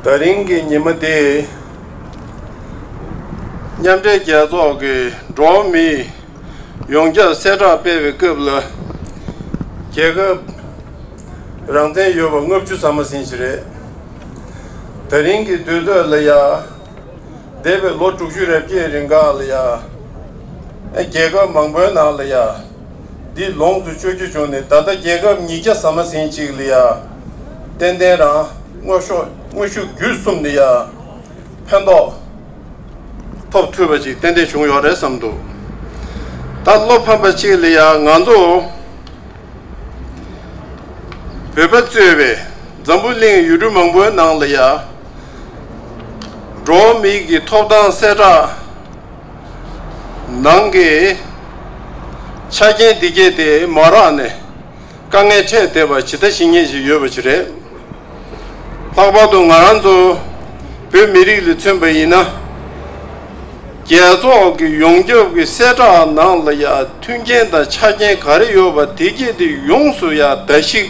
ད་རིང་གི་ཉིན་མོ་འདི། མཉམ་འབྲེལ་རྒྱལ་ཚོགས་ཀྱི་འགྲོ་བ་མི་ཡོངས་ཁྱབ་གསལ་བསྒྲགས་སྤེལ་བའི་སྐབས་ལ། རྒྱལ་ཁབ་རང་བཙན་ཡོད་པ་ལྔ་བཅུ་ཙམ་མ་ཟིན་ཞིག་རེད། ད་རིང་གི་དུས་ཚོད་ལ་ཡང། འདས་པའི་ལོ་དྲུག་ཅུ་རེ་བརྒྱད་རིང་ག་ལ་ཡང། རྒྱལ་ཁབ་མང་པོའི་ནང་ལ་ཡང། འདི་ལོངས་སུ་སྤྱོད་རྒྱུ་བྱུང་ནས་ད་ལྟ་རྒྱལ་ཁབ་ཉིས་བརྒྱ་ཟ་མ་ཟིན་གཅིག་ལ་ཡང། ཏན་ཏན་རང་དངོས་ཤུགས་བརྒྱུད་གསུམ་ལ་ཡང། ཕན་ཐོགས་ཐོབ་ཐུབ་པ་ཅིག་ཏན་ཏན་བྱུང་ཡོད་རེད་བསམ་འདུག་ད་བློ་ཕམ་པ་ཅིག་ལ་ཡང་ང་ཚོ། བོད་པ་གཙོས་པའི་འཛམ་བུ་གླིང་ཡུལ་གྲུ་མང་པོའི་ནང་ལ་ཡང་འགྲོ་བ་མིའི་གི་ཐོབ་ཐང་གསལ་བསྒྲགས་ནང་གི་ཆ་རྐྱེན་འདི་སྐྱེས་ཏེ་མ་རག་ནས་དཀའ་ངལ་འཕྲད་བསྡད་པ་ཇི་ལྟ་ཞིག་ཉན་བཞིན་ཡོད་པ་ཞིག་རེད། ལྷག་པར་དུ་ང་རང་ཚོ་བོད་མི་རིགས་ལས་མཚོན་པ་ཡིན་ན། རྒྱལ་ཚོགས་ཀྱི་ཡོངས་ཁྱབ་ཀྱི་གསལ་བསྒྲགས་ནང་ལ་ཡང་མཐུན་རྐྱེན་དང་ཆ་རྐྱེན་ག་རེ་ཡོད་པ་དེ་བརྒྱད་དེ་ཡོངས་སུ་ཡང་བརྡལ་བཤིག་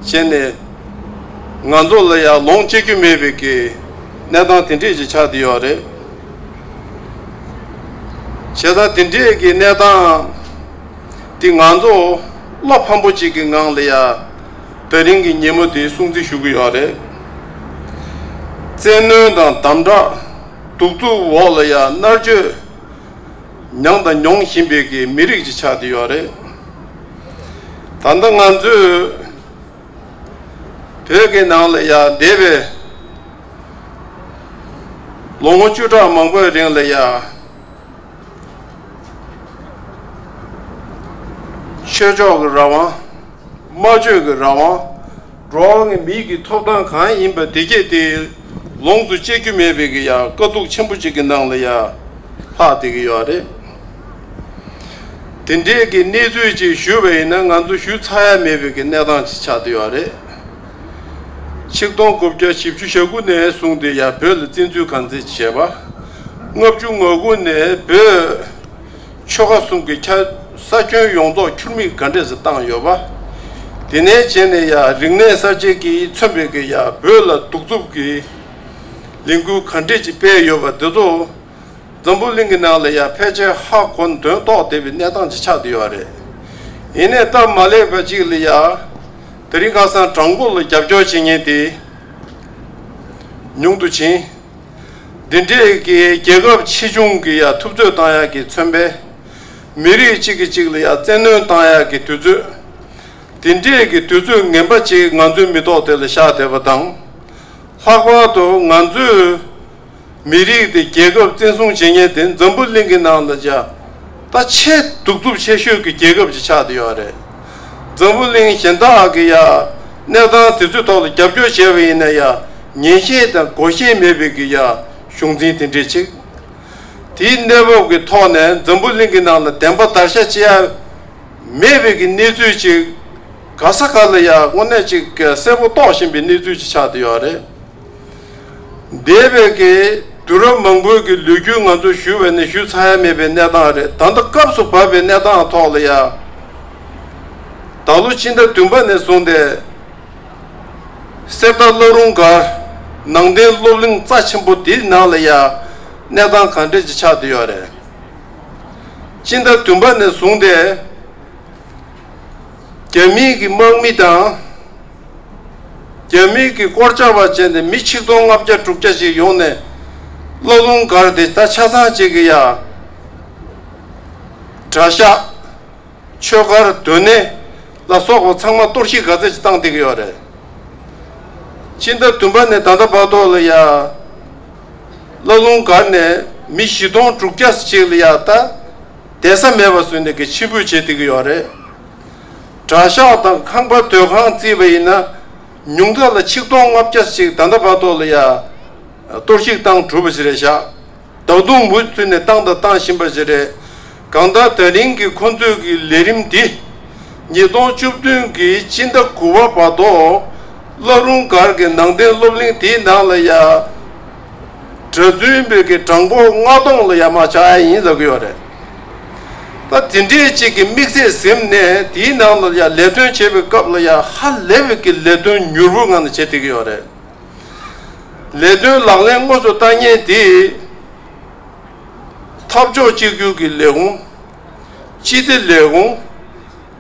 བྱས་ནས། ང་ཚོ་ལ་ཡང་ལོངས་སྤྱད་རྒྱུ་མེད་པའི་གི་གནས་སྟངས་དེ་འདྲས་ཀྱི་ཆགས་བསྡད་ཡོད་རེད། བྱས་ཙང་དེ་འདྲས་ཀྱི་གནས་སྟངས་དེ་ང་ཚོ་བློ་ཕམ་པོ་ཅིག་གི་ངང་ལ་ཡང། དེ་རིང་གི་ཉིན་མོ་དེའི་སྲུང་བརྩི་ཞུ་གི་ཡོད་རེད། བཙན་གནོན་དང་དམ་དྲག་གདུག་རྩུབ་འོག་ལ་ཡང་མནར་གཅོད་མྱངས་དང་མྱོང་བཞིན་པའི་གི་མི་རིགས་ཅིག་ཆགས་ཏེ་ཡོད་རེད། ད་ལྟ་ང་ཚོས་བོད་ཀྱི་ནང་ལ་ཡང་འདས་པའི་ལོ་ངོ་བཅུ་ཕྲག་མང་པོའི་རིང་ལ་ཡང་ཆོས་ཕྱོགས་ཀྱི་རང་དབང། སྨྲ་བརྗོད་ཀྱི་རང་དབང། འགྲོ་བ་ངས་མིག་གིས་ཐོབ་སྟངས་གང་ཡིན་པ་དེ་སྐད་དེ་ལོངས་སུ་སྤྱད་རྒྱུ་མེད་པའི་གི་ཡང་དཀའ་སྡུག་ཆེན་པོ་ཅིག་གི་ནང་ལ་ཡང་ལྷག་དེ་གི་ཡོད་རེད། དེ་འདྲའི་གི་གནས་ཚུལ་ཅིག་ཞུས་པ་ཡིན་ན་ང་ཚོ་ཞུས་ཚར་ཡ་མེད་པའི་གི་གནས་སྟངས་ཅིག་ཆགས་དེ་ཡོད་རེད། ཆིག་སྟོང་དགུ་བརྒྱ་བཞི་བཅུ་ཞག་དགུ་ནས་བཟུང་དེ་ཡང་བོད་ལ་བཙན་འཛུལ་གང་ཚེ་བྱས་པ། ལྔ་བཅུ་ང་དགུ་ནས་བོད། ཆོལ་ཁ་གསུམ་གྱི་ཁྱ་ས་ཁྱོན་ཡོངས་རྫོགས་ཁྱུར་མིད་ག་འདྲེས་སུ་བཏང་ཡོད་པ། དེ་ནས་བྱས་ནས་ཡ་རིག་གནས་གསར་བརྗེ་གིས་མཚོན་པའི་གི་ཡ་བོད་ལ་གདུག་རྩུབ་ཀྱི་ལས་འགུལ་ག་འདྲེས་ཀྱིས་སྤེལ་ཡོད་པ་འདི་ཚོ་འཛམ་བུ་གླིང་གི་ནང་ལ་ཡ་ཕལ་ཆེར་ཧ་གོ་འདོན་རྟོགས་བདེ་བའི་གནས་སྟངས་ཀྱི་ཆགས་བསྡད་ཡོད་རེད། ཡིན་ནས་སྟབས་མ་ལེགས་པ་ཅིག་ལ་ཡ་ད་རིང་ཁ་སང་བྲག་མགོ་ལ་རྒྱབ་སྐྱོར་བྱེད་མཁན་དེ་ཉུང་དུ་ཕྱིན། འདི་འདྲས་ཀྱི་རྒྱལ་ཁབ་ཆེ་ཆུང་གི་ཡང་ཐུབ་ཚོད་བཏང་ཡག་གི་མཚོན་པས། མི་རིགས་གཅིག་གི་གཅིག་ལ་ཡང་བཙན་གནོན་བཏང་ཡག་གི་དུས་ཚོད། འདི་འདྲས་ཀྱི་དུས་ཚོད་ངན་པ་ཅིག་ང་ཚོའི་མི་ཐོག་དེ་ལ་བཞག་བསྡད་པ་དང། ལྷག་པར་དུ་ང་ཚོའི་མི་རིགས་དེ་རྒྱལ་ཁབ་བཙན་བཟུང་བྱེད་ཉེན་དེ་འཛམ་བུ་གླིང་གི་ནང་ལ་འཇགས། ད་ཆེས་གདུག་རྩུབ་ཆེ་ཤོས་ཀྱི་རྒྱལ་ཁབ་ཅིག་ཆགས་བསྡད་ཡོད་རེད། འཛམ་བུ་གླིང་གཞན་དག་གི་ཡ། གནས་སྟངས་དེ་ཚོའི་ཐོག་ལ་རྒྱབ་སྐྱོར་བྱས་པ་ཡིན་ན་ཡ། ཉན་ཤེས་དང་དགོ་ཤེས་མེད་པའི་གི་ཡ། གཞུང་འཛིན་དེ་འདྲས་ཆིག། དེའི་གནས་བབ་ཀྱི་ཐོག་ནས་འཛམ་བུ་གླིང་གི་ནང་ལ་བདེན་པ་དར་ཤ་བཅད་ཡ། མེད་པའི་གི་གནས་ཚུལ་ཅིག། ག་ས་ག་ལ་ཡ་དངོས་གནས་ཅིག་གསལ་པོ་རྟོགས་བཞིན་པའི་གནས་ཚུལ་ཅིག་ཆགས་བསྡད་ཡོད་རེད། འདས་པའི་གི་དུས་རབས་མང་པོའི་གི་ལུས་རྒྱུས་ང་ཚོ་བཞུ་བས་ནི་བཞུ་ཚར་ཡ་མེད་པའི་གནས་སྟངས་རེད་ད་ལྟ་སྐབས་སུ་བབས་པའི་གནས་སྟངས་ཐོག་ལ་ཡ་ད་ལོ་ཕྱི་ཟླ་བདུན་པ་ནས་བཟུང་སྟེ་གསེར་རྟ་བླ་རུང་སྒར་ནང་བསྟན་སློབ་གླིང་རྩ་ཆེན་པོ་དེའི་ནང་ལ་ཡ་གནས་སྟངས་གང་འདྲ་ཅིག་ཆགས་དུ་ཡོད་རེད་ཕྱི་ཟླ་བདུན་པ་ནས་བཟུང་སྟེ་རྒྱ་མིའི་གི་དམག་མི་དང། རྒྱ་མིའི་གིས་དཀོར་ཆག་པ་བྱས་ནས་མི་ཆིག་སྟོང་ལྔ་བརྒྱ་དྲུག་བརྒྱ་ཞིག་ཡོང་ནས་བླ་རླུང་སྒར་དེ་ད་ཆ་ཚང་བྱེད་ཀྱི་ཡ། གྲྭ་ཤག། ཆོས་སྒར་སྡོད་གནས་ལ་སོགས་པ་ཚང་མ་གཏོར་བཤིག་ག་ཚད་ཅིག་བཏང་བསྡད་ཀྱི་ཡོད་རེད། ཕྱི་ཟླ་བདུན་པ་ནས་ད་ལྟ་བར་དུ་ལ་ཡ། བླ་རླུང་སྒར་ནས་མི་བཞི་སྟོང་དྲུག་བརྒྱ་ཞིག་ལ་ཡ་ད་བསྡད་ས་མེད་པ་བཟོས་ནས་གི་ཕྱིར་འབུད་བྱེད་བསྡད་ཀྱི་ཡོད་རེད། གྲྭ་ཤག་དང་ཁང་པ་སྡོད་ཁང་བརྩིས་པ་ཡིན་ན་ཉུང་མཐའ་ལ་ཆིག་སྟོང་ལྔ་བརྒྱ་ཞིག་ད་ལྟ་བར་ཐོག་ལ་ཡ་གཏོར་བཤིག་བཏང་གྲུབ་པ་ཞིག་རེད་ཤག་བདག་དུང་འབུད་ཚུལ་ནས་བཏང་དང་བཏང་བཞིན་པ་ཞིག་རེད་གང་ལྟར་ད་རིང་གི་ཁོ་ཚོས་ཀྱི་ལས་རིམ་འདི་ཉིས་སྟོང་བཅུ་བདུན་གྱི་སྤྱི་ཟླ་དགུ་བ་བར་ཐོག་བླ་རུང་སྒར་གྱི་ནང་བསྟན་སློབ་གླིང་དེའི་ནང་ལ་ཡ། གྲོས་བསྡུར་འབུལ་མཁན་གྲངས་འབོར་ལྔ་སྟོང་ལ་ཡ་མ་བྱ་ཡ་ཡིན་ཟེར་གྱི་ཡོད་རེད། ད་དེ་འདྲའི་གཅིག་གི་དམིགས་ཚད་གཟིམ་ནས་དེའི་ནང་ལ་ཡ་ལས་དོན་བྱེད་པའི་སྐབས་ལ་ཡ་ཧ་ལས་པའི་གི་ལས་དོན་མྱུར་བོ་ངང་ནས་བྱེད་བསྡད་ཀྱི་ཡོད་རེད། ལས་དོན་ལག་ལེན་དངོས་སུ་བསྟར་ཉེན་དེ་འཐབ་ཕྱོགས་གཅིག་གྱུར་གྱི་ལས་ཁུངས། སྤྱི་བདེ་ལས་ཁུངས།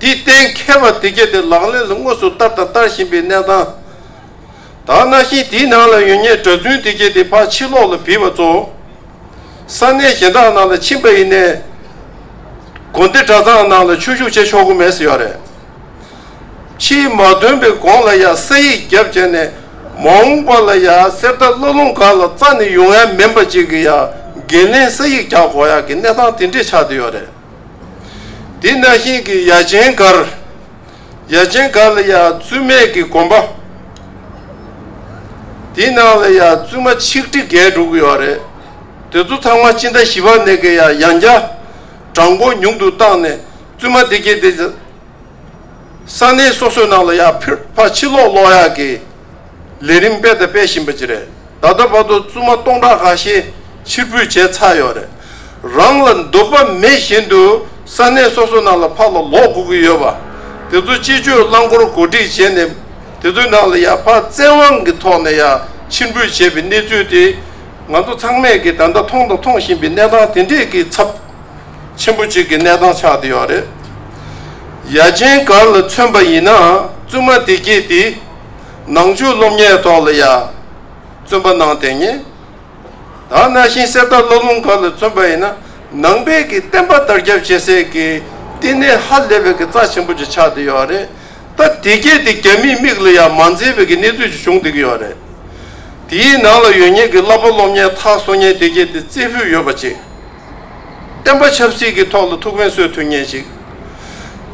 དེའི་གཏན་མཁས་པ་དེ་གལ་ཏེ་ལག་ལེན་ལ་དངོས་སུ་བསྟར་དང་བསྟར་བཞིན་པའི་གནས་སྟངས་དག་སྣང་ཞིང་དེའི་ནང་ལ་ཡོད་ཉེས་གྲྭ་བཙུན་དེ་གལ་ཏེ་ཕར་ཕྱིན་ལོག་ལ་བིས་པ་ཚོ་ས་གནས་གཞན་དག་ནང་ལ་ཕྱིན་པ་ཡིན་ནས་དགོན་སྡེ་གྲྭ་ཚང་ནང་ལ་ཆོས་ཞུགས་བྱེད་ཆོག་གི་མེད་ས་ཡོད་རེད། ཕྱིའི་མ་འདོན་པའི་དགོངས་ལ་ཡང་ས་ཡིག་རྒྱབ་བྱས་ནས་མ་འོངས་པ་ལ་ཡང་གསེར་རྟ་བླ་ལུང་གང་ལ་རྩ་ནས་ཡོང་ཡ་མིན་པ་ཅིག་གི་ཡང་འགན་ལེན་ས་ཡིག་རྒྱག་དགོས་ཡ་གི་གནས་སྟངས་དེ་འདྲས་ཆགས་བསྡད་ཡོད་རེད། འདི་ན་ཤིང་གི་ཡ་ཆེན་གར། ཡ་ཆེན་གར་ལ་ཡ་བཙུན་མས་ཀྱི་གོམ་པ། འདི་ནང་ལ་ཡ་བཙུན་མ་ཆིག་ཁྲི་བརྒྱད་དྲུག་གི་ཡོད་རེད། དེ་ཚོ་ཚང་མ་སྤྱི་ཟླ་བཞི་པ་ནས་ཀྱི་ཡ་ཡང་བརྒྱ། གྲངས་འབོར་ཉུང་དུ་བཏང་ནས་བཙུན་མ་དེ་ཀྱི་དེ། ས་གནས་སོ་སོའི་ནང་ལ་ཡང་ཕུད་ཕ་ཕྱི་ལོག་ལོག་ཡག་གི་ལས་རིམ་སྤེལ་དང་སྤེལ་བཞིན་པ་ཅི་རེད་ད་ལྟ་བར་དུ་བཙུན་མ་སྟོང་ཕྲག་འགའ་ཤས་ཕྱིར་ཕུད་བྱས་ཚར་ཡོད་རེད་རང་ལ་འདོད་པ་མེད་བཞིན་དུ་ས་གནས་སོ་སོའི་ནང་ལ་ཕར་ལ་ལོག་དགོས་ཀྱི་ཡོད་པ་དེ་ཚོ་སྤྱི་སྤྱོད་རླངས་འཁོར་གོ་སྒྲིག་བྱས་ནས་དེ་ཚོའི་ནང་ལ་ཡང་ཕར་བཙན་དབང་གི་ཐོག་ནས་ཡང་ཕྱིར་འབུད་བྱས་པའི་གནས་ཚུལ་དེ་ང་ཚོ་ཚང་མས་ཀྱི་ད་ལྟ་མཐོང་དང་མཐོང་བཞིན་པའི་གནས་སྟངས་དེ་འདྲས་ཀྱི་ཚབ། ཆེན་པོ་གཅིག་གི་གནས་སྟངས་ཆགས་བསྡད་ཡོད་རེད། ཡ་ཆེན་གར་ལ་མཚོན་པ་ཡིན་ནའང་བཙུན་མ་བདེ་སྐྱིད་དེས་ནང་ཆོས་སློབ་གཉེར་ཐོག་ལ་ཡ་བཙུན་པ་གནང་བསྡད་ངེས། ད་གནའ་ཤིང་གསེར་རྟ་བླ་ལུང་གར་ལ་མཚོན་པ་ཡིན་ན་ནང་པའི་གི་བསྟན་པ་དར་ཁྱབ་བྱེད་སའི་གི་བསྟི་གནས་ཧ་ལས་པའི་གི་རྩ་ཆེན་པོ་གཅིག་ཆགས་བསྡད་ཡོད་རེད། ད་བདེ་སྐྱིད་དེ་རྒྱ་མིའི་མིག་ལ་ཡ་མ་མཛེས་པའི་གི་གནས་ཚུལ་གཅིག་བྱུང་བསྡད་གི་ཡོད་རེད། དེའི་ནང་ལ་ཡོད་ངེས་གི་བསླབ་པ་སློབ་གཉེར་ཐག་སོ་ངེས་བདེ་སྐྱིད་དེ་རྩེ་ཕུད་ཡོད་པ་གཅིག། བསྟན་པ་ཆབ་སྲིད་ཀྱི་ཐོག་ལ་ཐུགས་ཕན་གསོས་ཐུབ་ཉེན་ཞིག་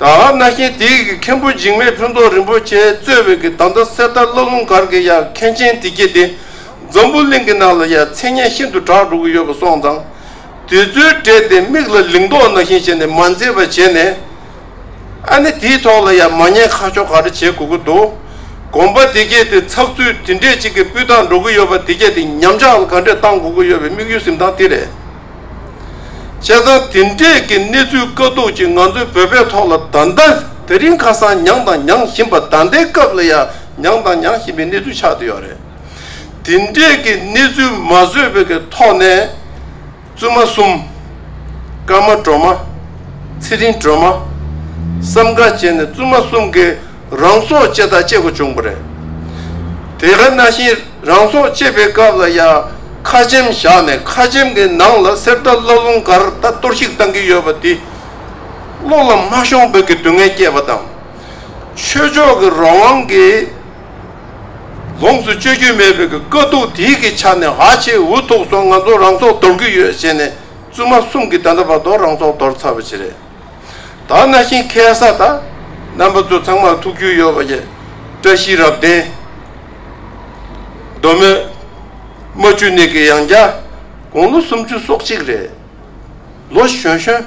དང་གནའ་ཤིང་དེའི་གི་མཁན་པོ་འཇིགས་མེད་ཕུན་ཚོགས་རིན་པོ་ཆེ་གཙོས་བའི་གི་ད་ལྟ་གསེར་རྟ་བླ་ལུང་སྒར་གྱི་ཡང་མཁན་ཆེན་དེ་གྱིས་དེ་འཛམ་བུ་གླིང་གི་ནང་ལ་ཡང་མཚན་སྙན་ཤིན་ཏུ་གྲགས་འགྲོ་གི་ཡོད་པ་སོང་ཙང་དེ་ཚོའི་གྲས་དེ་མིག་ལ་ལིང་ཏོག་ནང་བཞིན་བྱས་ནས་མ་མཛེས་པ་བྱས་ནས། ཨ་ནི་དེའི་ཐོག་ལ་ཡང་མ་ཉེས་ཁ་ཕྱོགས་ག་རེ་བྱེད་དགོས་ཀྱི་འདུག་དགོངས་པ་དེ་གས་ཏེ་ཚགས་ཚུད་དེ་འདྲས་ཅིག་གི་སྤུས་དག་འགྲོ་གི་ཡོད་པ་དེ་གས་ཏེ་ཉམས་ཆག་ག་འདྲས་བཏང་དགོས་ཀྱི་ཡོད་པའི་དམིགས་ཡུལ་གཟིམས་སྟངས་དེ་རེད། བྱས་ཙང་དེ་འདྲས་ཀྱི་གནས་ཚུལ་དཀའ་སྡུག་ཅིག་ང་ཚོའི་བོད་པའི་ཐོག་ལ་ད་ལྟ་དེ་རིང་ཁ་སང་མྱངས་དང་མྱངས་བཞིན་པ་ད་ལྟའི་སྐབས་ལ་ཡང་མྱངས་དང་མྱངས་བཞིན་པའི་གནས་ཚུལ་ཆགས་ཏེ་ཡོད་རེད། དེ་འདྲས་ཀྱི་གནས་ཚུལ་མ་བཟོས་པའི་ཐོག་ནས། བཙུན་མ་གསུམ། སྐར་མ་སྒྲོལ་མ། ཚེ་རིང་སྒྲོལ་མ། བསམ་དགའ་བཅས་ནས་བཙུན་མ་གསུམ་གྱི་རང་སྲོག་བཅད་དང་བཅད་དགོས་བྱུང་བ་རེད། དེ་ག་ན་བཞིན་རང་སྲོག་བཅད་པའི་སྐབས་ལ་ཡང་ཁ་ཆེམས་བཞག་ནས་ཁ་ཆེམས་ཀྱི་ནང་ལ་གསེར་རྟ་བླ་ལུང་སྒར་རྟ་གཏོར་བཤིག་བཏང་གི་ཡོད་པ་དེས་བློ་ལ་མ་ཤོང་འབོད་ཀྱི་སྡུག་བསྔལ་བསྐྱེད་པ་དང། ཆོས་ཕྱོགས་ཀྱི་རང་དབང་གི། ལོངས་སུ་སྤྱོད་རྒྱུ་མེད་པའི་དཀའ་སྡུག་དེའི་གི་ཆ་ནས་ཧ་ཆེ་འུ་ཐུག་སོང་ང་ཚོ་རང་སྲོག་འདོར་གི་ཡོད་ཞེས་ནས་བཙུན་མ་གསུམ་གི་ད་ད་བར་དོ་རང་སྲོག་འདོར་ཚར་བ་ཆེ་རེད་ད་གནའ་ཤིང་ཁལ་ས་ད་རྣམ་པ་ཚོ་ཚང་མར་ཐུགས་རྒྱུས་ཡོད་པ་ཡི་བཀྲ་ཤིས་རབ་བརྟན། མདོ་སྨད་རྨ་ཆུ་ནས་གི་ཡང་བརྒྱ་དགུང་ལོ་སུམ་ཅུ་སོག་གཅིག་རེད་ལོ་གཞོན་གཞོན།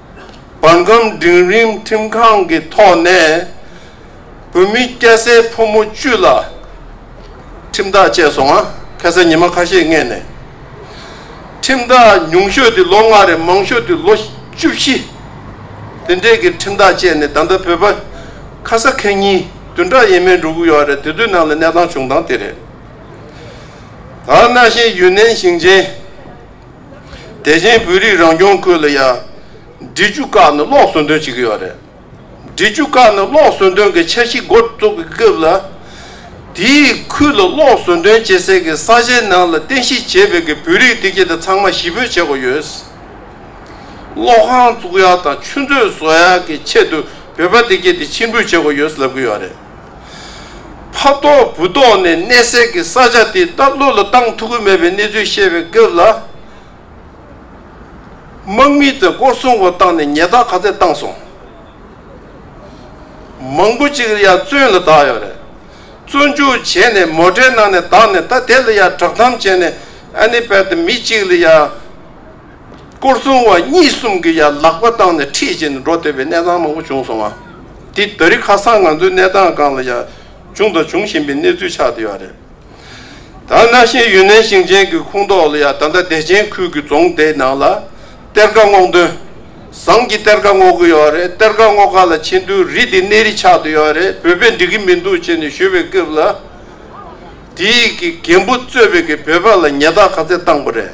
འབར་ཁམས་འབྲིང་རིམ་ཁྲིམས་ཁང་གི་ཐོག་ནས་བོད་མི་སྐྱ་སེར་ཕོ་མོ་བཅུ་ལ་ཁྲིམས་ཐག་བཅད་སོང་ང་ཁ་སང་ཉི་མ་ཁ་ཤས་སྔས་ནས་ཁྲིམས་ཐག་ཉུང་ཤོས་དུས་ལོ་ལྔ་རེ་མང་ཤོས་དུས་ལོ་བཅུ་བཞི་དེ་འདྲས་ཀྱི་ཁྲིམས་ཐག་བཅད་ནས་ད་ལྟ་བོད་པ་ཁ་ས་ཁེ་གཉིས་བདུན་ཕྲག་ཡས་མས་འགྲོ་གི་ཡོད་རེད་དེ་དུས་ནང་ལ་གནས་སྟངས་བྱུང་སྟངས་དེ་རེད་ད་གནའ་ཤེས་ཡུན་ནན་ཞིང་ཆེན། དེ་བཞིན་བོད་རིགས་རང་སྐྱོང་ཁུལ་ལ་ཡང་འབྲི་ཆུ་བཀག་ནས་གློག་ཟོན་འདོན་བྱེད་ཀྱི་ཡོད་རེད། འབྲི་ཆུ་བཀག་ནས་གློག་ཟོན་འདོན་གྱི་འཆར་གཞི་འགོ་བཙུགས་པའི་སྐབས་ལ། དེའི་ཁུལ་ལ་གློག་ཟོན་འདོན་བྱེད་སའི་གི་ས་ཆའི་ནང་ལ་རྟེན་གཞི་བྱས་པའི་གི་བོད་རིགས་སྡེ་ཁྱེད་དེ་ཚང་མ་གཞིས་སྤོས་བྱེད་དགོས་ཡོད། གློག་ཁང་བཙུགས་ཡག་དང་ཆུ་མཛོད་བཟོ་ཡག་གི་ཆེད་དུ་བོད་པ་སྡེ་ཁྱེད་དེ་ཕྱིར་འབུད་བྱེད་དགོས་ཡོད་ལབ་ཀྱི་ཡོད་རེད། ཕ་ལྟོགས་བུ་ལྟོགས་ནས་གནས་སའི་གི་ས་ཆ་དེ་ལྟར་བློ་ལ་བཏང་ཐུག་གི་མེད་པའི་གནས་ཚུལ་བཤད་པའི་སྐབས་ལ། དམག་མི་ཚོས་སྐོར་སྲུང་བ་བཏང་ནས་ཉལ་ཐག་ག་ཚད་བཏང་སོང། མང་པོ་ཅིག་ཡར་བཙོན་ལ་བདག་ཡོད་རེད། བཙོན་འཇུག་བྱས་ནས་མོ་འདྲེ་ནང་ནས་བདག་ནས་ད་དེ་ལ་ཡར་བསྒྲགས་གཏམ་བྱས་ནས་ཨ་ནི་བལ་ཏི་མི་གཅིག་ལ་ཡར། སྐོར་སྲུང་བ་གཉིས་གསུམ་གྱིས་ཡར་ལག་པ་བཏང་ནས་འཁྲིད་བཞིན་དུ་འགྲོ་འདོད་པའི་གནས་སྟངས་མང་པོ་བྱུང་སོང་བ་འདིས་རྡ་རི་ཁ་སང་ང་ཚོའི་གནས་སྟངས་སྒང་ལ་ཡང་བྱུང་དང་འབྱུང་བཞིན་པའི་གནས་ཚུལ་ཆགས་བསྡད་པ་རེད། ད་གནའ་ཤེས་ཡུན་ནན་ཞིང་ཆེན་གྱི་ཁོངས་གཏོགས་ལ་ཡང་ད་ལྟ་བདེ་ཆེན་ཁུལ་གྱི་རྫོང་དེའི་ནང་ལ་གཏེར་ཁ་སྔོག་འདོན་བཟང་གྱི་གཏེར་ཁ་སྔོག་གི་ཡོད་རེད་གཏེར་ཁ་སྔོག་ཁ་ལ་ཕྱིན་དུས་རི་དེ་གནས་རི་ཆགས་བསྡད་ཡོད་རེད་བོད་པས་འགྲིག་གི་མི་འདུག་ཅེས་ནས་ཞུས་པའི་སྐབས་ལ། དེའི་གི་རྒན་པོ་གཙོས་པའི་གི་བོད་པ་ལ་ཉེས་རྟགས་ག་ཚད་བཏང་པ་རེད།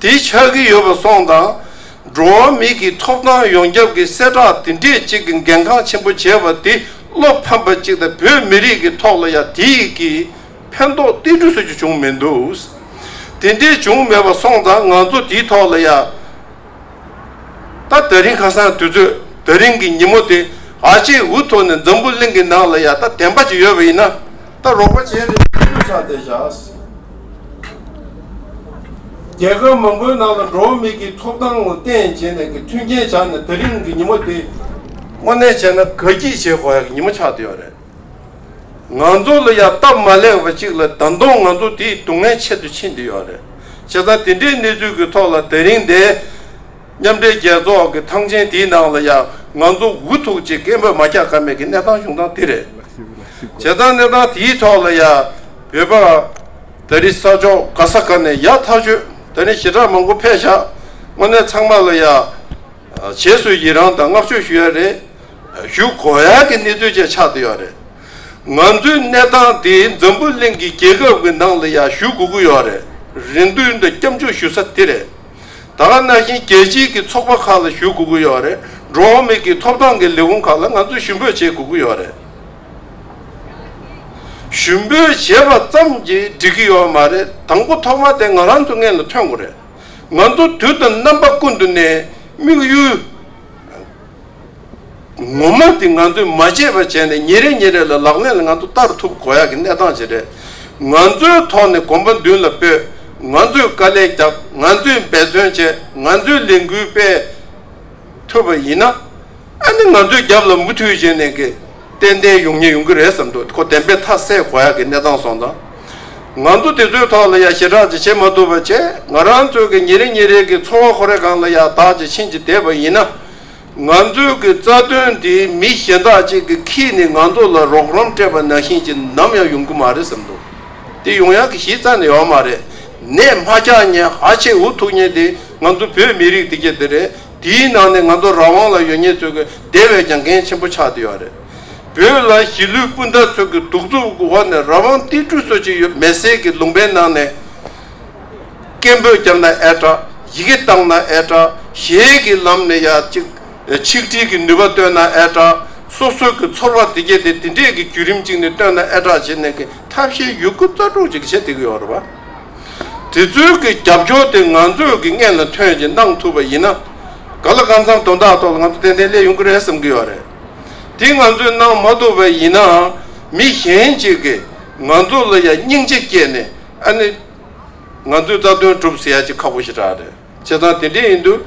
དེ་ཆགས་ཀྱི་ཡོད་པ་སོགས་དང། འགྲོ་བ་མིའི་གི་ཐོབ་ཐང་ཡོངས་ཁྱབ་ཀྱི་གསལ་བསྒྲགས་དེ་འདྲས་ཅིག་གི་འགན་ཁང་ཆེན་པོ་བྱས་པ་དེ་བློ་ཕམ་པ་ཅིག་དང་བོད་མི་རིགས་ཀྱི་ཐོག་ལ་ཡང་དེ་ཡི་གི་ཕན་ཐོག་གཏན་འབྲུ་སུ་ཅིག་བྱུང་མེད་འདུག་དེ་འདྲས་བྱུང་མེད་པ་སོང་དང་ང་ཚོ་དེའི་ཐོག་ལ་ཡང་ད་ད་རིང་ཁ་སང་དུས་ཚོད་ད་རིང་གི་ཉིན་མོ་དེ་ཨ་ཅེ་འུ་ཐོག་ནས་འཛམ་བུ་གླིང་གི་ནང་ལ་ཡང་ད་བདེན་པ་ཅིག་ཡོད་པ་ཡིན་ན། ལྟར་རོགས་པ་བྱས་རེད་ཅེས་ཤུགས་ཆགས་དེ་བཞག་ཟིན། རྒྱལ་ཁབ་མང་པོའི་ནང་ལ་འགྲོ་བ་མི་གི་ཐོབ་ཐང་ངོ་བསྟན་བྱས་ནས་གི་མཐུན་རྐྱེན་བྱ་ནས་ད་རིང་གི་ཉི་མ་དེ། དངོས་གནས་བྱས་ན་དགའ་སྐྱིད་བྱེད་དགོས་ཡག་གི་ཉི་མ་ཆགས་དུས་ཡོད་རེད། ང་ཚོ་ལ་ཡག་སྟབས་མ་ལེགས་པ་གཅིག་ལ་ད་དུང་ང་ཚོ་དེའི་སྡུག་བསྔལ་ཆེད་དུ་ཕྱིན་དུ་ཡོད་རེད། བྱས་ཙང་དེ་འདྲའི་གནས་ཚུལ་གི་ཐོག་ལ་ད་རིང་འདས་མཉམ་འབྲེལ་རྒྱལ་ཚོགས་ཀྱི་ཐང་ཆེན་དེའི་ནང་ལ་ཡང་ང་ཚོ་འུ་ཐུག་ཅིག་སྐད་འབོད་མ་རྒྱག་ཀ་མེད་ཀྱི་གནས་སྟངས་བྱུང་སྟངས་དེ་རེད། བྱས་ཙང་གནས་སྟངས་དེའི་ཐོག་ལ་ཡང་བོད་པ། ད་རི་ས་ཕྱོགས་ག་ས་ག་ནས་ཡག་ཐག་ཆོད་ད་ནི་ཞེ་དྲག་མང་པོ་ཕེབས་བཞག་དངོས་གནས་ཚང་མ་ལ་ཡང་བྱེས་སུ་ཡི་རང་དང་བསྔགས་བརྗོད་ཞུ་ཡ་རེད། ཞུ་དགོས་ཡག་གི་གནས་ཚུལ་བཅས་ཆགས་འདི་ཡོག་རེད། ང་ཚོའི་གནས་སྟངས་དེ་འཛམ་བུ་གླིང་གི་རྒྱལ་ཁབ་ཀྱི་ནང་ལ་ཡང་ཞུ་དགོས་ཀྱི་ཡོག་རེད་རེད་འདུན་དང་སྐྱབས་འཇུག་ཞུ་ས་དེ་རེད། ད་ག་ནང་བཞིན་རྒྱལ་སྤྱིའི་གི་ཚོགས་པ་ཁག་ལ་ཞུ་དགོས་ཀྱི་ཡོད་རེད་འགྲོ་འོང་མིག་གི་ཐོབ་ཐང་གི་ལས་ཁུངས་ཁག་ལ་ང་ཚོ་ཞུ་འབོད་བྱེད་དགོས་ཀྱི་ཡོད་རེད། ཞུ་འབོད་བྱེད་པ་ཙམ་གྱིས་འགྲིག་གི་ཡོད་མ་རེད་དང་པོ་ཐོག་མ་དེ་ང་རང་ཚོ་མངལ་ལ་ཐོན་དགོས་རེད། ང་ཚོ་དུས་དང་རྣམ་པ་ཀུན་ཏུ་ནས་དམིགས་ཡུལ། ངོ་མ་དེ་ང་ཚོས་མ་བྱས་པར་བྱས་ནས་ཉིན་རེ་ཉིན་རེ་ལ་ལག་ལེན་ལ་ང་ཚོ་བསྟར་ཐུབ་དགོས་ཡག་གི་གནས་སྟངས་ཞིག་རེད། ང་ཚོའི་ཐོག་ནས་གོམ་པ་མདུན་ལ་སྤོས། ང་ཚོས་དཀའ་ལས་བརྒྱབ་ང་ཚོས་འབད་བརྩོན་བྱས་ང་ཚོས་ལས་འགུལ་སྤེལ། ཐུབ་པ་ཡིན་ན། ཨ་ནི་ང་ཚོའི་རྒྱབ་ལ་མུ་མཐུད་བྱས་ནས། ཏན་ཏན་ཡོང་ཉེན་ཡོང་གི་རེད་བསམ་འདུག་ཁོ་བདེན་པའི་མཐའ་གསལ་དགོས་ཡག་གི་གནས་སྟངས་སོང་དང། ང་ཚོ་དེ་ཚོའི་ཐོག་ལ་ཡང་ཞེ་དྲག་ཅིག་བྱེད་མ་ཐུབ་པ་བྱས། ང་རང་ཚོའི་གི་ཉིན་རེ་ཉིན་རེ་གི་འཚོ་བ་ཁོ་རེ་གང་ལ་ཡང་དག་ཅིག་ཕྱིན་ཅིག་བསྡད་པ་ཡིན་ན། ང་ཚོའི་གི་རྩ་དོན་འདི་མི་གཞན་དག་ཅིག་གི་གིས་ནི་ང་ཚོ་ལ་རོགས་རམ་སྤྲད་པ་ནང་བཞིན་ཅིག་ནམ་ཡང་ཡོང་གི་མ་རེད་བསམ་འདུག་དེ་ཡོང་ཡང་གི་གཞི་རྩ་ནས་ཡོང་མ་རེད། ནད་དམར་འཁྱག་ཉེན་ཧ་ཆེ་འུ་ཐུག་ཉེན་དེ་ང་ཚོ་བོད་མི་རིགས་དེ་གྱེས་དེ་རེད་དེའི་ནང་ནས་ང་ཚོ་རང་དབང་ལ་ཡོད་ཉེན་ཚོའི་གི་དེ་བས་ཀྱང་འགན་ཆེན་པོ་ཆགས་དེ་ཡོད་རེད། བོད་ལ་གཞིས་ལུས་སྤུན་ཟླ་ཚོ་གི་གདུག་རྩུབ་ཀྱི་འོག་ནས་རང་དབང་རྟིང་སྐྲུ་བཟོ་བྱེད་ཡོད་མེད་ཟེར་གི་ལུང་པའི་ནང་ནས། སྐད་འབོད་རྒྱབ་ན་ཨེ་དྲག་ཡི་གེ་བཏང་ན་ཨེ་དྲག་གཞས་ཀྱི་ལམ་ནས་ཡག་ཅིག་ཆིག་སྒྲིལ་གྱི་ནུས་པ་བཏོན་ན་ཨེ་དྲག་སོ་སོ་གི་ཚོར་བ་དེ་སྐྱེ་དེ་དེ་འདྲས་ཀྱི་བརྒྱུད་རིམ་ཅིག་ནས་བཏོན་ན་ཨེ་དྲག་བྱེད་ནས་ཀྱི་ཐབས་ཤེས་ཡོད་རྒུ་རྩ་དྲུག་ཅིག་བྱེད་བསྡད་ཀྱི་ཡོད་རེད་བ། དེ་ཚོའི་གི་རྒྱབ་སྐྱོར་དེ་ང་ཚོས་གི་སྔས་ལ་ཐོན་བཞིན་གནང་ཐུབ་པ་ཡིན་ན། ག་ལ་གང་འཚམ་དོན་དག་ཐོག་ལ་ང་ཚོ་ཏན་ཏན་སླེབས་ཡོང་གི་རེད་བསམ་གྱི་ཡོད་རེད། དེ་ང་ཚོས་གནང་མ་ཐུབ་པ་ཡིན་ནའང་མི་གཞན་ཞིག་གིས་ང་ཚོ་ལ་ཡང་སྙིང་རྗེ་སྐྱེས་ནས་ཨ་ནི། ང་ཚོའི་རྩ་དོན་སྒྲུབ་ཟེར་ཡ་ཅི་ཁག་པོ་ཞིག་དྲག་རེད་བྱས་ཙང་དེ་འདྲས་ཡིན་དུས་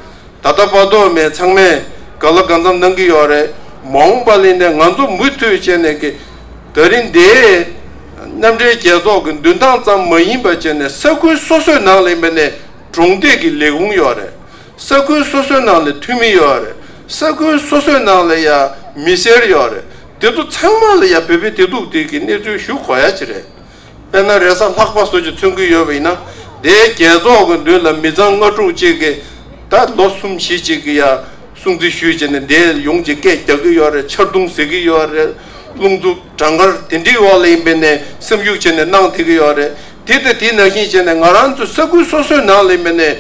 ད་ལྟ་དཔའ་དོག་མེད་ཚང་མས་ག་ལ་གང་འཚམ་གནང་གི་ཡོད་རེད་མ་འོངས་པ་ལས་ནས་ང་ཚོ་མུ་མཐུད་བྱས་ནས་ཀི་ད་རིང་འདས་མཉམ་འབྲེལ་རྒྱལ་ཚོགས་ཀྱི་མདུན་ཐང་ཙམ་མ་ཡིན་པ་བྱས་ནས་ས་ཁུལ་སོ་སོའི་ནང་ལས་འབེན་ནས་གྲོང་སྡེ་གི་ལས་ཁུངས་ཡོད་རེད་ས་ཁུལ་སོ་སོའི་ནང་ལ་འཐུས་མི་ཡོད་རེད། ས་ཁུལ་སོ་སོའི་ནང་ལ་ཡང་མི་སེར་ཡོད་རེད། དེ་ཚོ་ཚང་མ་ལ་ཡང་བོད་པའི་བདེ་སྡུག་དེ་གི་གནས་ཚུལ་ཞུ་གོ་ཡ་ཅི་རེད། དཔེར་ན་རེས་གཟའ་ལྷག་པ་སོགས་ཀྱི་མཚོན་གི་ཡོད་པ་ཡིན་ན། དེའི་རྒྱལ་ཚོགས་ཀྱི་མདུན་ལ་མི་ཚང་ལྔ་དྲུག་ཅིག་གི་ད་ལོ་གསུམ་བཞི་ཅིག་གི་ཡང་སྲུང་བརྩི་ཞུས་བྱས་ནས་དེ་ཡོངས་ཀྱི་སྐད་རྒྱག་གི་ཡོད་རེད་ཆར་རྡུང་ཟེག་གི་ཡོད་རེད། རླུང་འཚུབ་གྲང་ངར་དེ་འདྲའི་འོག་ལ་ཡིན་པའི་ནས་སེམས་ཤུགས་ཆེ་ནས་གནང་བསྡད་གི་ཡོད་རེད། དེ་ལྟ་དེ་ནང་བཞིན་བྱས་ནས་ང་རང་ཚོའི་ས་ཁུལ་སོ་སོའི་ནང་ལ་ཡིན་པའི་ནས།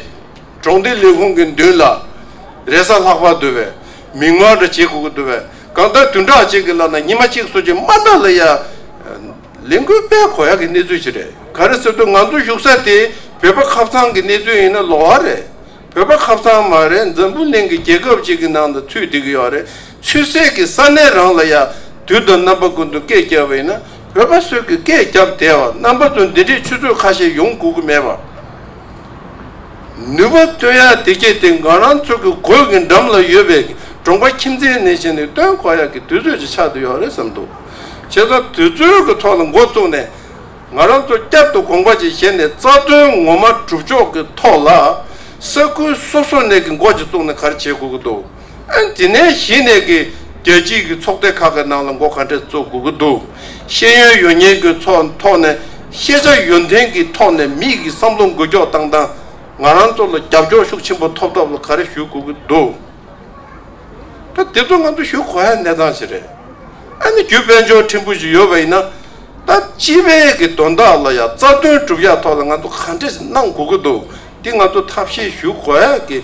གྲོང་སྡེའི་ལས་ཁུངས་ཀྱི་མདུན་ལ་རས་ས་ལྷག་པར་བརྡོལ་བས་མིག་དམར་འདྲ་བྱེད་དགོས་ཀྱི་འདུག་པས་གང་ལྟར་དུས་འདྲ་ཅིག་གི་ལ་ན་ཉི་མ་གཅིག་སོ་གཅིག་དམར་ནག་ལ་ཡ། ལས་འགུལ་སྤེལ་གོ་ཡག་གི་གནས་ཚུལ་ཞིག་རེད་ག་རེ་ཟེར་དུས་ང་ཚོ་བཞུགས་ས་དེ་བོད་པ་ཁབ་ཚང་གི་གནས་ཚུལ་ཡིན་ན་ལོག་ཨ་རེད་བོད་པ་ཁབ་ཚང་མ་རེད་འཛམ་བུ་གླིང་གི་རྒྱལ་ཁབ་ཅིག་གི་ནང་དུ་ཚུད་བསྡད་ཀྱི་ཡོག་རེད་ཚུད་སའི་གི་ས་གནས་རང་ལ་ཡ། དུས་དང་རྣམ་པ་ཀུན་ཏུ་སྐད་རྒྱབ་པ་ཡིན་ན་བོད་པ་སོད་གི་སྐད་རྒྱབ་བསྡད་བ་རྣམ་པ་ཚོ་འདི་འདྲའི་ཆུ་ཚོད་ཁ་ཤས་ཡོང་དགོས་ཀྱི་མེད་པ། ནུས་པ་བཏོན་ཡག་དེ་སྐད་དེ་འགའ་རང་ཚུགས་ཀྱི་གོས་ཀྱི་འགྲམ་ལ་ཡོད་པའི་གྲོང་པ་ཁྱིམ་མཚེས་ནས་བྱས་ནས་བཏོན་གོ་ཡག་གི་དུས་ཚོད་ཅིག་ཆགས་འདུག་ཡོད་རེད་བསམ་འདུག་བྱས་ཙང་དུས་ཚོད་ཀྱི་ཐོག་ལ་མགོ་བཙུགས་ནས་ང་རང་ཚོ་བསྐྱར་དུ་དགོངས་པ་ཅིག་བཞེས་ནས་རྩ་དོན་ངོ་མ་གྲུབ་ཕྱོགས་ཀྱི་ཐོག་ལ་ས་ཁུལ་སོ་སོ་ནས་ཀྱི་མགོ་ཅིག་བཙུགས་ནས་ག་རེ་བྱེད་དགོས་ཀྱི་འདུག། དེ་ནས་གཞི་ནས་ཀྱི་རྒྱལ་སྤྱིའི་ཀྱི་ཚོགས་སྡེ་ཁག་གི་ནང་ལ་མགོ་ག་འདྲས་བཙུགས་དགོས་ཀྱི་འདུག་ཤེས་ཡོན་ཡོད་ཉེན་གྱི་ཚོགས་ཐོག་ནས་ཤེས་བྱ་ཡོན་ཏན་གྱི་ཐོག་ནས་མིག་གི་བསམ་བློ་འགུལ་འགྱོག་བཏང་སྟངས་ང་རང་ཚོ་ལ་རྒྱབ་སྐྱོར་ཤུགས་ཆེན་པོ་ཐོབ་ཐབས་ལ་ག་རེ་ཞུ་དགོས་ཀྱི་འདུག་ད་དེ་ཚོ་ང་ཚོ་ཞུ་གོ་ཧའི་གནས་སྟངས་ཞིག་རེད་ཨ་ནི་བརྒྱུད་དཔལ་འབྱོར་ཕྲན་བུ་ཞིག་ཡོད་པ་ཡིན་ན་ད་སྤྱི་བའི་ཀྱི་དོན་དག་ལ་ཡང་རྩ་དོན་གྲུབ་ཡ་ཐོག་ལ་ང་ཚོ་ག་འདྲས་ནང་དགོས་ཀྱི་འདུག་དེ་ང་ཚོ་ཐབས་ཤེས་ཞུ་གོ་ཧའི་ཀྱི་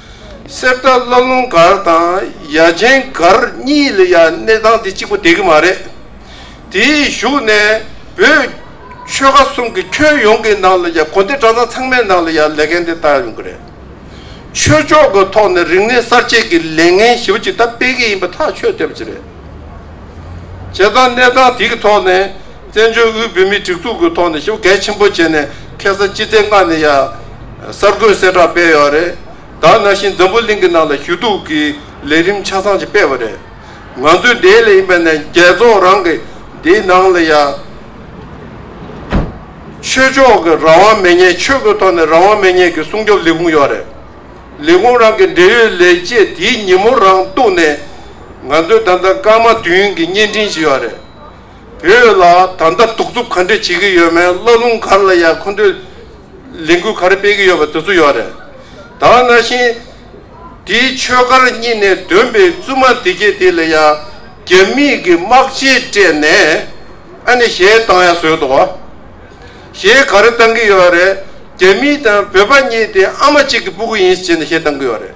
གསེར་རྟ་བླ་ལུང་སྒར་དང་ཡ་ཆེན་སྒར་གཉིས་ལ་ཡང་གནས་ཐང་འདི་གཅིག་པོ་བསྡད་ཀྱི་མ་རེད། དེའི་གཞུག་ནས་བོད་ཆོལ་ཁ་གསུམ་གྱི་ཁྱོན་ཡོངས་ཀྱི་ནང་ལ་ཡང་གོ་བདེ་གྲྭ་ཚང་ཚང་མའི་ནང་ལ་ཡང་ལས་འགན་འདི་བཏང་ཡོང་གི་རེད། ཆོས་ཕྱོགས་ཀྱི་ཐོག་ནས་རིག་གནས་གསར་བརྗེས་ཀྱི་ལས་འགན་ཞིབ་ཕྲ་ཅིག་ད་སྤེལ་གྱི་ཡིན་པ་ཐག་ཆོད་བསྡད་པ་ཅིག་རེད། བྱས་ཙང་གནས་ཐང་འདི་གི་ཐོག་ནས། བཙན་བྱོལ་དབུས་བོད་མིའི་སྒྲིག་འཛུགས་ཀྱི་ཐོག་ནས་ཞིབ་གལ་ཆེན་པོ་བྱས་ནས་ཁེ་གསར་སྤྱི་བདེ་ལྔ་ནས་ཡ། གསར་འགོད་གསལ་བསྒྲགས་སྤེལ་ཡོད་རེད། དག་ན་ཤིང་འཛམ་བུ་གླིང་གི་ནང་ལ་ཞུ་གཏུག་གི་ལས་རིམ་ཆ་ཚང་ཞིག་སྤེལ་བ་རེད། ང་ཚོའི་འདས་ལས་ཡིན་པ་ནས་རྒྱལ་ཚོགས་རང་གི་འདིའི་ནང་ལ་ཡ། ཆོས་ཕྱོགས་ཀྱི་རང་དབང་མེད་ཉེས་ཆོས་ཀྱི་ཐོག་ནས་རང་དབང་མེད་ཉེས་ཀྱི་སྲུང་སྐྱོབ་ལས་ཁུངས་ཡོད་རེད། ལས་ཁུངས་རང་གི་འབྲེལ་ཡོད་ལས་བྱེད་དེའི་ཉིན་མོ་རང་གཏུགས་ནས་ང་ཚོའི་ད་ལྟ་སྐར་མ་བདུན་གྱི་བརྙན་འཕྲིན་ཞིག་ཡོད་རེད། བོད་ལ་ད་ལྟ་གདུག་རྩུབ་ག་འདྲས་བྱེད་ཀྱི་ཡོད་མེད་བླ་རླུང་གར་ལ་ཡང་ཁོ་ཚོས་ལས་འགུལ་ག་རེ་སྤེལ་གྱི་ཡོད་པ་དེ་ཚོ་ཡོད་རེད་ད་ང་བཞིན་དེའི་ཆོས་སྒར་གཉིས་ནས་འདོན་པའི་བཙུན་མ་དེ་སྐད་དེ་ལ་ཡང་རྒྱ་མི་གི་དམག་ཆས་སྤྲས་ནས་ཨ་ནི་ཞེས་བཏང་ཡ་བཟོས་འདུག་ཞེས་ག་རེ་བཏང་གི་ཡོད་རེད་རྒྱ་མི་དང་བོད་པ་གཉིས་དེ་ཨ་མ་གཅིག་གི་སྤུ་གུ་ཡིན་ཞེས་ཞེས་བཏང་གི་ཡོད་རེད།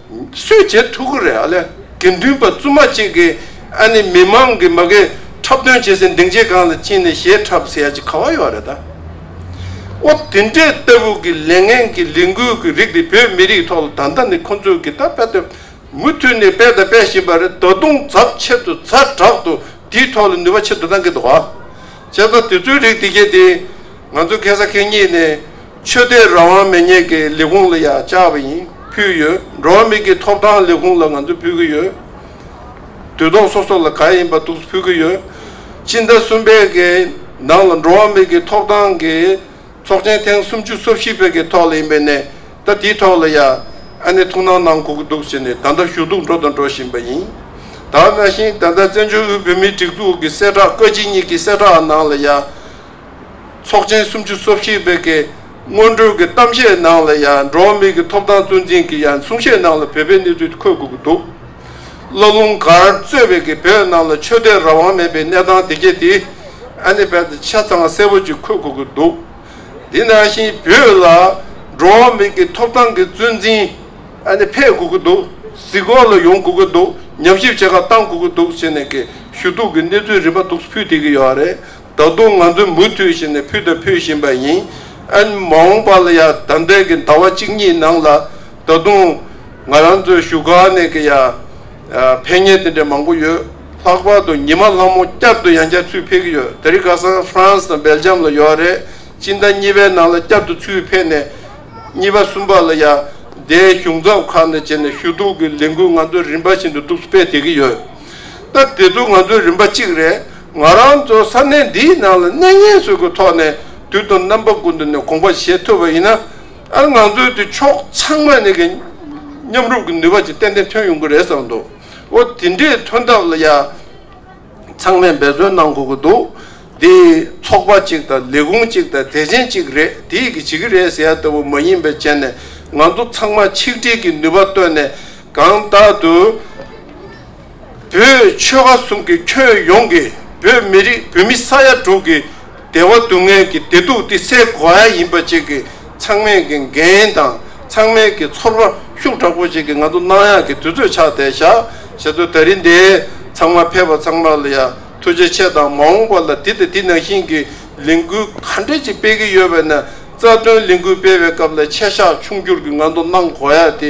སུས་བྱེད་ཐུབ་ཀི་རེད་ཨ་ལས་དགེ་འདུན་པ་བཙུན་མ་གཅིག་གིས་ཨ་ནི་མི་མང་གིས་མ་གིས་འཁྲབ་སྟོན་བྱེད་སའི་འདེང་བྱེད་ཁང་ལ་ཕྱིན་ནས་ཞེ་འཁྲབ་ཟེར་ཡ་ཅི་ག་བ་ཡོད་རེད་ད། ཨོ་དེ་འདྲས་ལྟ་བུ་གི་ལས་ངན་གི་ལས་འགུལ་གི་རིགས་དེ་བོད་མི་རིགས་ཐོག་ལ་ད་ལྟ་ནས་ཁོ་ཚོས་གི་ད་སྤེལ་ཏེ་མུ་མཐུད་ནས་སྤེལ་དང་སྤེལ་བཞིན་པ་རེད་ད་དུང་ཛབ་ཆེད་དུ་ཛ་དྲག་ཏུ་དེའི་ཐོག་ལ་ནུས་པ་ཆེད་དུ་གནང་གི་འདུག་བྱས་ཙང་དེ་ཚོའི་རིགས་དེ་གས་དེ། ང་ཚོ་གེ་སར་ཁེ་གཉིས་ནས་ཆོས་དད་རང་དབང་མེད་ཉེས་ཀྱི་ལས་ཁུངས་ལ་ཡང་བཅར་བ་ཡིན་ཕུལ་ཡོད། འགྲོ་བ་མིག་གི་ཐོབ་ཐང་ལས་ཁུངས་ལ་ང་ཚོ་ཕུལ་གྱི་ཡོད། དུས་ཐོག་སོ་སོ་ལ་ག་ཡིན་པ་འདུག་ཕུལ་གྱི་ཡོད། སྤྱི་ཟླ་གསུམ་པའི་གི་ནང་ལ་འགྲོ་བ་མིག་གི་ཐོབ་ཐང་གི་ཚོགས་ཆེན་ཐེངས་སུམ་ཅུ་སོ་བཞི་པའི་གི་ཐོག་ལ་ཡིན་པའི་ནས་ད་དེའི་ཐོག་ལ་ཡང་ཨ་ནེ་ཐུགས་སྣང་གནང་དགོས་ཀྱི་འདུག་ཟེར་ནས་ད་ལྟ་ཞུ་གཏུག་འགྲོ་དང་འགྲོ་བཞིན་པ་ཡིན། ད་ནང་བཞིན་ད་ལྟ་བཙན་བྱོལ་དབུས་བོད་མིའི་སྒྲིག་འཛུགས་ཀྱི་གསལ་བསྒྲགས་བཀའ་སྤྱི་གཉིས་ཀྱི་གསལ་བསྒྲགས་ནང་ལ་ཡང་ཚོགས་ཆེན་སུམ་ཅུ་སོ་བཞི་པའི་གི་སྔོན་འགྲོའི་གི་གཏམ་བཤད་ནང་ལ་ཡང་འགྲོ་བ་མིའི་གི་ཐོབ་ཐང་གཙོ་འཛིན་གི་ཡང་གསུང་བཤད་ནང་ལ་བོད་པའི་གནས་ཚུལ་འཁོད་དགོས་ཀྱི་འདུག་སློབ་ལུང་གར་གཙོས་པའི་གི་བོད་ནང་ལ་ཆོས་དད་རང་དབང་མེད་པའི་གནས་སྟངས་དེ་གྱེས་དེ་ཨ་ནི་བལ་དུ་ཆ་ཚང་གསལ་པོ་ཅིག་འཁོད་དགོས་ཀྱི་འདུག་དེ་ནང་བཞིན་བོད་ལ་འགྲོ་བ་མིའི་གི་ཐོབ་ཐང་གི་གཙོ་འཛིན་ཨ་ནི་ཕེབས་དགོས་ཀྱི་འདུག་གཟིགས་སྐོར་ལ་ཡོང་དགོས་ཀྱི་འདུག་ཉམས་ཞིབ་བྱེད་སྐབས་བཏང་དགོས་ཀྱི་འདུག་ཟེར་ནས་གི་ཞུ་གཏུག་གི་གནས་ཚུལ་རིམ་པ་དུག་སུ་ཕུད་དེ་གི་ཡོད་རེད་ད་དུང་ང་ཚོས་མུ་མཐུད་བྱས་ནས་ཕུལ་དང་ཕུལ་བཞིན་པ་ཡིན། ཨན། མ་འོངས་པ་ལ་ཡང་དམ་དྲན་གྱི་ཟླ་བ་གཅིག་གཉིས་ནང་ལ་ད་དུང་ང་རང་ཚོའི་བཞུགས་སྒར་ནས་ཀྱི་ཡང་ཕན་ཉེས་དེ་འདྲའི་མང་པོ་ཡོད། ལྷག་པར་དུ་ཉི་མ་ལྷ་མོ་བསྐྱར་དུ་ཡང་བསྐྱར་ཚུར་ཕེབས་ཀྱི་ཡོད། དེ་རིང་ཁ་སང France དང Belgium ལ་ཡོད་རེད། སྤྱི་ཟླ་གཉིས་པའི་ནང་ལ་བསྐྱར་དུ་ཚུར་ཕེབས་ནས་གཉིས་པ་གསུམ་པ་ལ་ཡང་སྡེའི་གཞུང་ཚབ་ཁག་ནས་བྱས་ནས་ཞུ་གཏུག་གི་ལས་འགུལ་ང་ཚོ་རིམ་པ་བཞིན་དུ་གཏུགས་སྤེལ་བྱེད་ཀྱི་ཡོད། སྟབས་བདེ་འདུག་ང་ཚོ་རིམ་པ་གཅིག་རེད་ང་རང་ཚོ་ས་གནས་འདིའི་ནང་ལ་གནས་ངན་སོས་ཀྱི་ཐོག་ནས་དུས་དང་རྣམ་པ་ཀུན་ཏུ་ནས་གོང་པ་བཞེས་ཐུབ་པ་ཡིན་ན་ཨ་ང་ཚོའི་དེ་ཕྱོགས་ཚང་མ་ནས་ཀྱི་མཉམ་རུབ་ཀྱི་ནུས་པ་ཅིག་ཏན་ཏན་ཐོན་ཡོང་གི་རེད་བསམ་འདུག་འོ་དེ་འདྲའི་ཐོན་ཐབས་ལ་ཡང་ཚང་མས་འབད་བརྩོན་གནང་དགོས་ཀྱི་འདུག་དེ་ཚོགས་པ་གཅིག་དང་ལས་ཁུངས་གཅིག་དང་དད་ཅན་གཅིག་རེད་དེས་ཀྱི་བྱེད་ཀྱི་རེད་ཟེར་ཡ་ལྟ་བུ་མ་ཡིན་པའི་བྱས་ནས་ང་ཚོ་ཚང་མ་ཆིག་སྒྲིལ་གྱི་ནུས་པ་བཏོན་ནས། གང་དག་ཏུ། བོད་ཆོལ་ཁ་གསུམ་གྱི་ཁྱོན་ཡོངས་ཀྱི་བོད་མི་རིགས་བོད་མི་ས་ཡ་དྲུག་གི་བདེ་བ་སྡུག་བསྔལ་གྱི་བདེ་སྡུག་འདི་སེལ་དགོས་ཨ་ཡིན་པ་བཅས་ཀྱི་ཚང་མས་ཀྱི་འགན་དང་ཚང་མས་ཀྱི་ཚོར་བ་ཤུགས་དྲག་པོ་བཅས་ཀྱི་ང་ཚོ་སྣང་ཡང་གི་དུས་ཚོད་ཕྱག་འདེད་བྱ་བྱེད་དུ་ད་རིང་འདས་ཚང་མ་ཕེབས་པ་ཚང་མ་ལ་ཡ་ཐུགས་རྗེ་ཆེ་དང་མ་འོངས་པ་ལ་འདི་དང་འདི་ནང་བཞིན་གྱི་ལས་འགུལ་ག་འདྲ་ཅིག་སྤེལ་གྱི་ཡོད་པ་ནས་རྩ་དོན་ལས་འགུལ་སྤེལ་བའི་སྐབས་ལ་ཆད་ཤག་ཆུང་བསྐྱུར་གྱི་ང་ཚོ་གནང་དགོས་ཡ་དེ